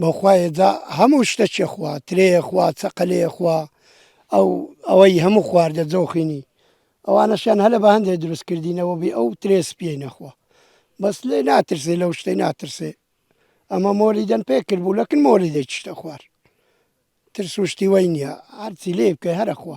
بەوخوایە جا هەموو شتەکێ خوا ترێیە خوا چەقەلێیە خوا ئەو ئەوەی هەموو خواردە جۆخینی ئەوانەشیان هەلە بە هەندێک دروست کردینەوە بێ ئەو ترێ سپیەی نەخوا بەس لێ ناترسێ لەو شتەی ناترسێ ئەمە مۆری دەن پێ کرد بوو لەکن مۆری دەیتشتە خوار ترس و شتی وای نییە هەرچی لێ بکەی هەرەخوا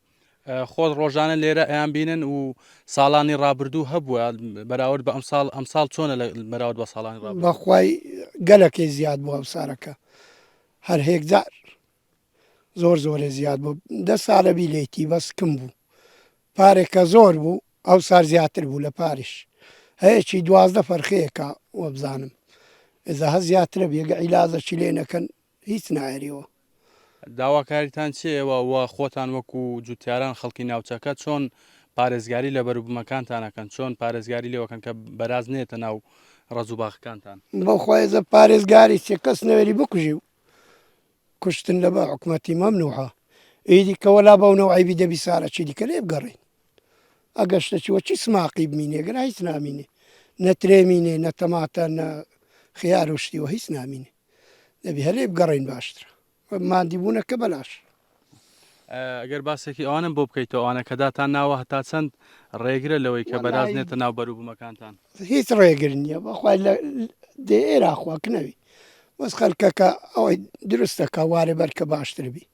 خۆت ڕۆژانە لێرە ئەیان بینن و ساڵانی ڕابردوو هەبووە بەراورد بە ئەمساڵ ئەمساڵ چۆنە لە بەراورد بە ساڵان بەخوای گەلەکەی زیاد بوو ئەم سارەکە هەر هێکجار زۆر زۆرە زیاد بوو دە سالەبی لێتی بەس کم بوو پارێکە زۆر بوو ئەو سار زیاتر بوو لە پاریش هەیەکی دوازدە فەرخەیەەکە وەبزانم ئێزا هە زیاترە بێگە عیلازەکی لێ نەکەن هیچ نایەریەوە. داواکاریتان چیە و و خۆتان وەکو جوتیاران خەڵکی ناوچەکە چۆن پارێزگاری لە بەروبومەکانتان ئەکەن چۆن پارێزگاری لێو ئەکەن کە بەراز نێتە ناو ڕەز و باخەکانتان؟ بەو خوایەزە پارێزگاری چیە کەس نەوێری بکوژی و کوشتن لە بە حکومەتی مەمنوحە ئیدی کە وەلا بەو نەو عەیبی دەبی سارە چی دیکە لێ بگەڕێین ئەگەر شتە چی وە چی سماقی بمینێ گەرا هیچ نامینێ نە ترێ مینێ نە تەماتە نە خیار و شتی وە هیچ نامینێ. دەبی هەلێ بگەڕین باشترە مادی بوونە کە بەلاش. گەر باسێکی ئەوانم بۆ بکەیت ئەوانە کە داتان ناوە هەتا چەند ڕێگرە لەوەی کە بەرازنێتە ناو بەروبوومەکانتان هیچ ڕێگر نییە بەخوای لە دێرا خواکنەوی بەس خەلکەکە ئەوەی دروستەکە وارێ بەرکە باشتر بی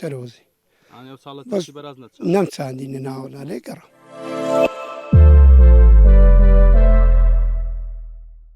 تەرۆزی نەم چاندی نەناوە لەێ گەڕام.